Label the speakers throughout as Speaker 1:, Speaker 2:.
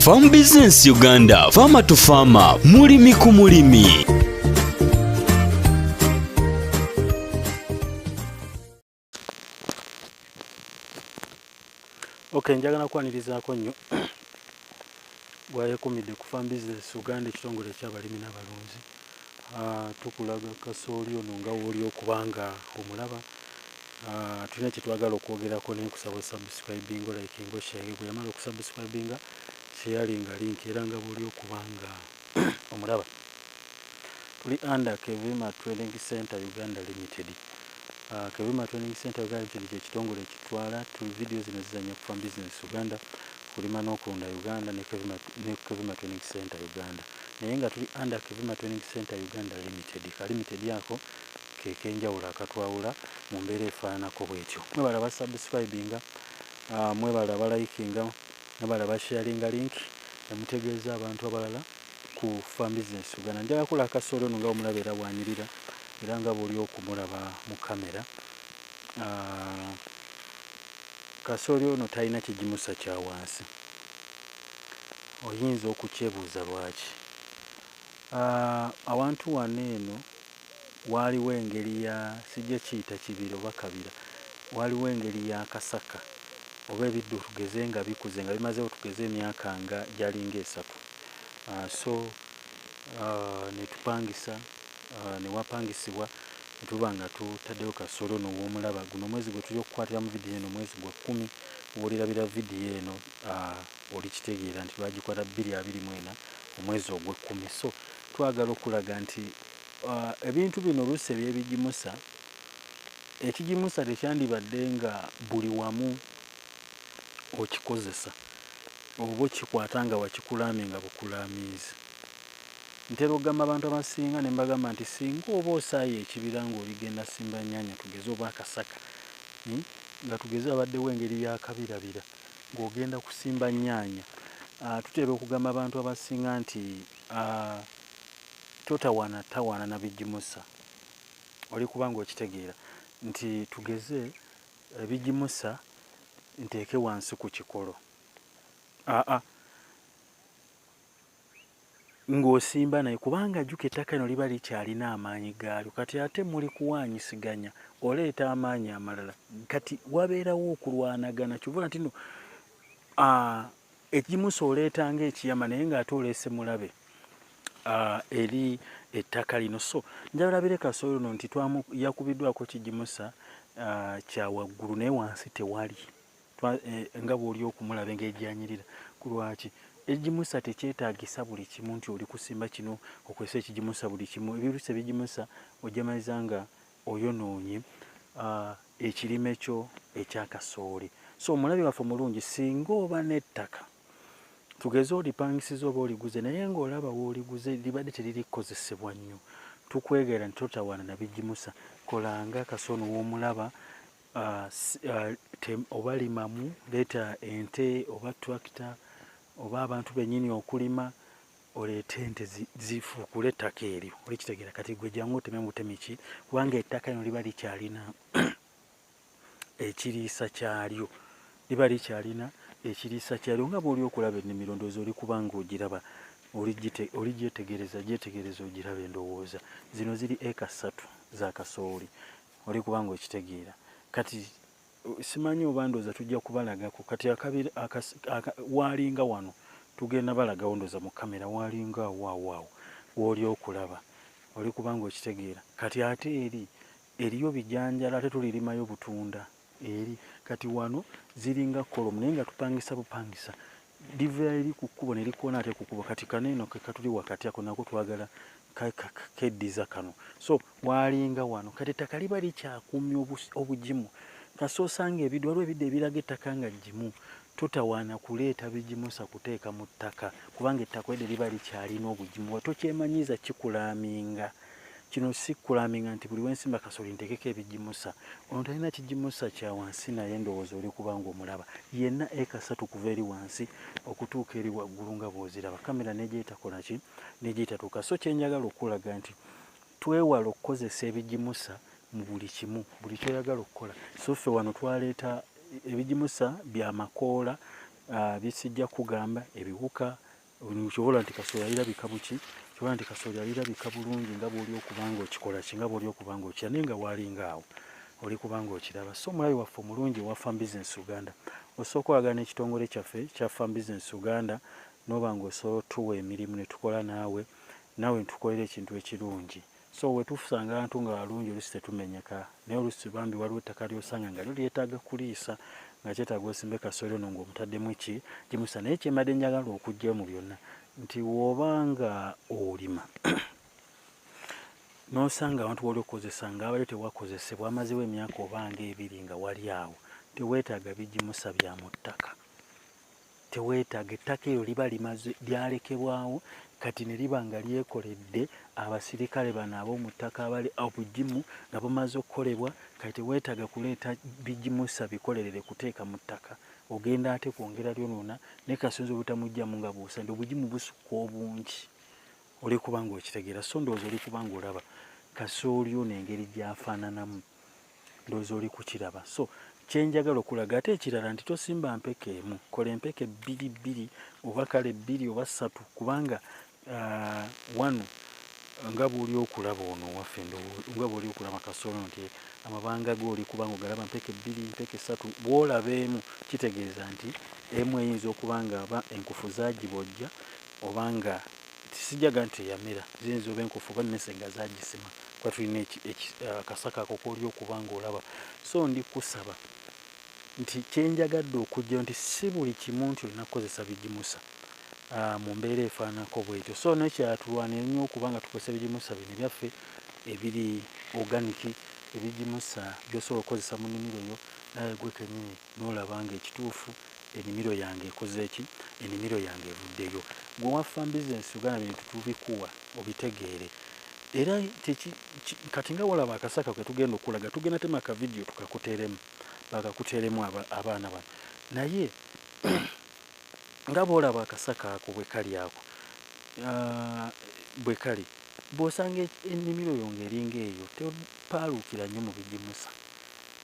Speaker 1: Farm Business Uganda, Farmer to Farmer, mulimi ku mulimi.
Speaker 2: Okay, njagala kwanirizaako nnyo gwayekumidde ku Farm Business Uganda ekitongole ekyabalimi n'abalunzi. Ah, tukulaga kasooli ono nga wooli okuba nga omulaba ah, tulina kyetwagala okwogerako naye nkusaba osubscribing like ngo share bweyamala okusubscribinga sheyali nga link era nga booli okuba nga omulaba tuli under kevima training center uganda limited ah, kevima training center uganda limited kyekitongole ekitwala video zino zizanya kufa business uganda kulima nokulunda uganda ne kevima training center uganda naye nga tuli under Kivuma Training Centre Uganda Limited. Ka limited ako ke k'enjawulo akatwawula mu mbeera efaananako bw'etyo. Mwebale aba subscribinga, mwebale aba likinga, mwebale aba sharinga link ne mutegeeza abantu abalala ku Farm Business Uganda. Njagala kukola kasooli ono nga bwe mulaba era bw'anyirira era nga bw'oli okumulaba mu kkamera. Kasooli ono talina kigimusa kya wansi. oyinza okukyebuuza lwaki. Awantu wano eno waaliwo engeri ya, sijja kiyita kibira oba kabira, waaliwo engeri ya kasaka oba ebiddo tugeze nga bikuze nga bimazeewo tugeze emyaka nga gyalinga esatu so ne tupangisa ne wapangisibwa ne tuba nga tutaddeyo kasolo ono w'omulaba. Guno omwezi gwe tuli okukwatiramu vidiyo eno mwezi gwa kkumi, w'olirabira vidiyo eno. olikitegeera nti bagikwata bbiri abiri mu ena omwezi ogw'ekkumi so twagala okulaga nti ebintu bino oluusi ebyebigimusa ekigimusa tekyandibadde nga buli wamu okikozesa oba okikwata nga wakikulaamye nga bukulaamiizi ntera okugamba abantu abasinga ne mbagamba nti singa oba osaaye ekibira ng'oligenda simba nnyanya tugeze oba akasaka hmm, nga tugeze abaddewo engeri yakabirabira ng'ogenda kusimba nnyaanya. Ah, tutera okugamba abantu abasinga nti ah, totawaana tawaana na bigimusa oli kubanga okitegeera nti tugeze ebigimusa nteeke wansi ku kikolo aa ah, ah. ng'osimba naye kubanga jjuko ettaka lino liba likyalina amaanyi gaalyo kati ate muli kuwaanyisiganya oleeta amaanyi amalala kati wabeerawo okulwanagana kyovula ntino ekimusa oleeta ngaekiyama naye ng'ate oleese mulabe eri ettaka lino so njabalabire kasooyi luno nti yakubiddwako kigimusa kyawaggulu naye wansi tewali Eh, nga bwoli okumulaba engeri gyanyirira kulwaki egimusa tekyetagisa buli kimu nti oli kusimba kino okozesa ekigimusa buli kimu ebirusa ebigimusa ojamaliza nga oyonoonye ah, ekirime kyo ekyakasooli so omulabi waffe omulungi singa oba n'ettaka tugeze olipangisiza oba oliguze naye ngaolaba wooliguze libadde teriri kukozesebwa nnyo tukwegaira nti totawaana nabigimusa kolanga kasooni w'omulaba uh, uh, oba limamu leeta ente oba tractor oba abantu benyini okulima oleete ente zifuukule ettaka eryo olikitegeera kati gwe jangu oteme mutemi ki kubanga ettaka lino liba likyalina ekiriisa kyalyo liba likyalina ekiriisa kyalyo nga bwoli okulaba ennimiro ndowooza oli kubanga ogiraba oli gyetegereza gyetegereza ogiraba endowooza zino ziri eka ssatu za kasooli oli kubanga okitegeera kati simanyi oba ndooza tujja kubalagako kati waalinga wano tugenda balagawo ndooza mu kamera waalinga awoawaawo wooli okulaba oli kubanga okitegeera kati ate eri eriyo bijanjala ate tulirimayo butunda eri kati wano ziringa kolomu naye nga tupangisa bupangisa livera eri ku kkubo ne likoona atya ku kkubo kati kano eno kekatuli wakati ako nako twagala keddiza kano so waalinga wano kati ettaka liba likyakuumya obugimu kasi osanga ebiddu waliwo ebiddu ebiraga ettaka nga gimu totawaana kuleeta bigimusa kuteeka mu ttaka kubanga ettaka edde liba likyalina obugimu watokyemanyiiza kikulaaminga Kino si kulaminga nti buli wensimba kasooli ntekeko ebigimusa. Ono talina kigimusa kya wansi naye ndowooza oli kubanga omulaba yenna eka satu kuva eri wansi okutuuka eri waggulu nga bwoziraba kamera negyetakola ki negyetatuuka so kyenjagala okukulaga nti twewala okukozesa ebigimusa mu buli kimu buli kyoyagala okukola so ffe wano twaleeta ebigimusa byamakoola uh, ah, bisijja kugamba ebiwuka kyobola nti kasooli alirabika buki kyobola nti kasooli alirabika bulungi nga bwoli okubanga okikola ki nga bwoli okubanga okira naye nga waalinga awo oli kubanga okiraba so omulabi waffe omulungi owa farm business uganda osooka olagana n'ekitongole kyaffe kya farm business uganda noba nga osobola otuwa emirimu netukola naawe naawe ntukolera ekintu ekirungi so wetufusanga abantu nga walungi olusi tetumenyeka naye olusi bambi waliwo ettaka lyosanga nga lyo lyetaaga kuliisa nga kyetaaga osimbe kasooli ono ngaomutaddemu ki gimusa naye kyembadde njagala okugyayo mu byonna nti woba nga olima nosanga abantu wali okozesa nga abadde tewakozesebwa amazewo emyaka obanga ebiri nga wali awo tewetaaga bigimusa bya mu ttaka teweetaaga ettaka eryo liba limaze lyalekebwawo kati ne liba nga lyekoledde abasirikale bano ab'omu ttaka abali obugimu nga bumaze okukolebwa kati teweetaaga kuleeta bigimusa bikolerere kuteeka mu ttaka ogenda ate kwongera lyonoona ne kasunzi obutamugyamu nga buusa nti obugimu busukka obungi oli kubanga okitegeera so ndowooza oli kubanga olaba kasooli ono engeri gy'afaananamu ndowooza oli kukiraba so kyenjagala okulaga ate ekirala nti tosimba mpeke emu kola empeke bbiri bbiri oba kale bbiri oba ssatu kubanga uh, wano nga bwoli okulaba ono waffe nga bwoli okulaba kasolo nti amabanga ge oli kubanga ogalaba mpeke bbiri mpeke ssatu bwolaba emu kitegeeza nti emu eyinza okuba nga aba enkufu zagibojja obanga Sijaga nti yamera ziyinza oba enkofu oba mese nga zagisima kuba tulina akasaka eh, ako koli okuba ngaolaba so ndi kusaba nti kyenjagadde okujjayo nti si buli kimu nti olina kukozesa bigimusa ah, mu mbeera efaanako bwetyo so nekyatulwanira nnyo okuba nga tukozesa ebigimusa bino byaffe ebiri oganiki ebigimusa byosobola okukozesa mu nimiro yo naye gwe kenyini N'olaba nga ekituufu enimiro yange ekoze ki? Enimiro yange evuddeyo. Ggwe waffa mbizzi ensigo gana bintu tubikuwa obitegeere. Era kyeki ki kati nga wolaba akase ako ketugenda okukulaga tugenda tema ka video tukakuteremu bakakuteremu aba abaana bano naye nga bwolaba akasaka ako bwekali ako aah bwekali bwosanga enimiro yo nga eringa eyo topaaluukira nnyo mubigimusa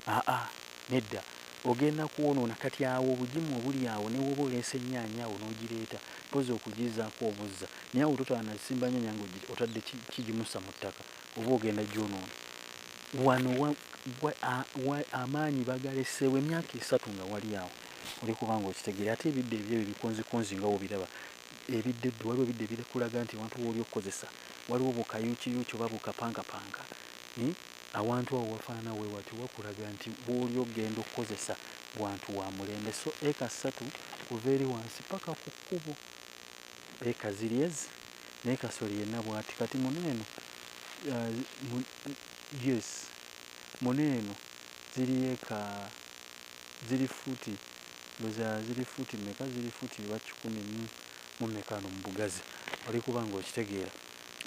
Speaker 2: aa nedda ogenda kwonoona kati awo obugimu obuli awo newoba oleese enyaanya awo nogireeta mpozi okugizaako obuzza naye awo totaba nasimba nyanya nga otadde kigimusa mu ttaka oba ogenda gyonoona wano wa, wa, a, wa, amaanyi bagaleseewo emyaka esatu nga wali awo oli kubanga okitegeera ate ebidde ebyo ebyo bikonzikonzi nga wobiraba ebidde eddu waliwo ebidde ebirikulaga nti wantu wooli okukozesa waliwo bukayuukiyuuki oba bukapankapanka hmm? Awantu awo wafaanana we watyo wakulaga nti w'oli ogenda okukozesa wantu wa mulembe. So eka ssatu kuva eri wansi paka ku kkubo. Eka ziri ezi naye kasooli yenna bwati. Kati muno eno yes muno eno ziri eka ziri fuuti ndoza ziri fuuti meka ziri fuuti bakikumi mu meka no mu bugazi oli kuba nga okitegeera.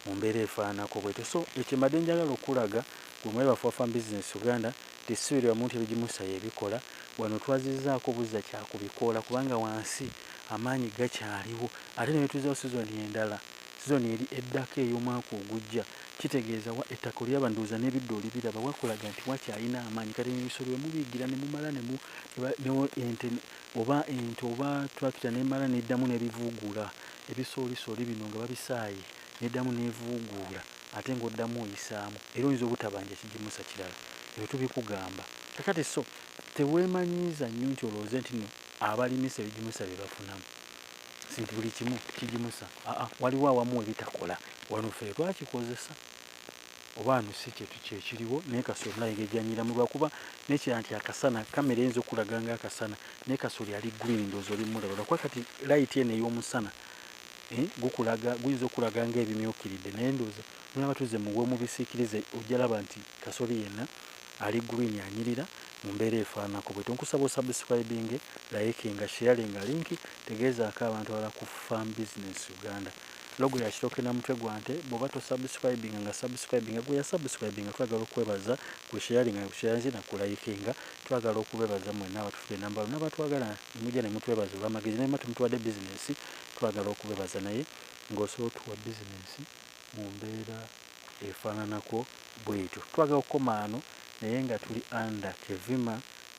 Speaker 2: mu mbeera efaananako bwetyo so ekye mbadde njagala okulaga gwe mwayi waffe wa Farm Business Uganda nti ssi buli wamu nti ebigimusa yebikola wano twazizaako buzza kya ku bikoola kubanga wansi amaanyi gakyaliwo ate nebetuzaawo sizoni endala sizoni eri eddako eyomwaka ogujja kitegeeza wa ettaka olyaba ndowooza nebiddo olibiraba wakulaga nti wakyalina amaanyi kati ebisolo wemubiyigira nemumala nemu ne ente oba ente oba tractor nemala neddamu nebivuugula Ebisoolisooli bino nga babisaaye n'eddamu n'evuuguula ate ng'oddamu oyisaamu era oyinza obutabanja kigimusa kirala. Ebyo tubikugamba kakati so teweemanyiiza nnyo nti olowooze nti nno abalimisa ebigimusa bye bafunamu nti buli kimu kigimusa. Aa waliwo awamu we bitakola. Wano ffe tetwakikozesa. oba ano si kyetu kyekiriwo naye kasoli olina engeri gyanyiramu lwakuba nekirala nti akasana kamera eyinza okulaga nga akasana naye kasoli ali green ndoozi oli mulaba lwakuba kati layiti eno ey'omusana eh, gukulaga guyinza okulaga nga ebimyukiridde naye ndooza mulaba tuze muwe mubisikirize ojalaba nti kasoli yenna ali green anyirira mu mbeera efaanako bwe tonkusaba osubscribinge layikinga sheyalinga linki tegeezaako abantu abala ku farm business uganda Logo ya kitooke na mutwe gwa nte bwoba to subscribinga nga subscribinga gwe ya subscribinga twagala okwebaza gwe sharinga nga sharinze na ku likinga twagala okubebaza mwena abatufude enamba wano nabatwagala nemuja nemutwebaza olwamagezi nayema temutuwade business twagala okubebaza naye nga osobola otuwa business mumbera efananako bwetyo twagala okukomaano naye nga tuli under kevima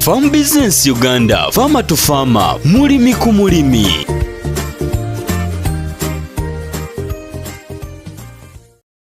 Speaker 1: Farm Business Uganda, Farmer to Farmer, mulimi ku mulimi.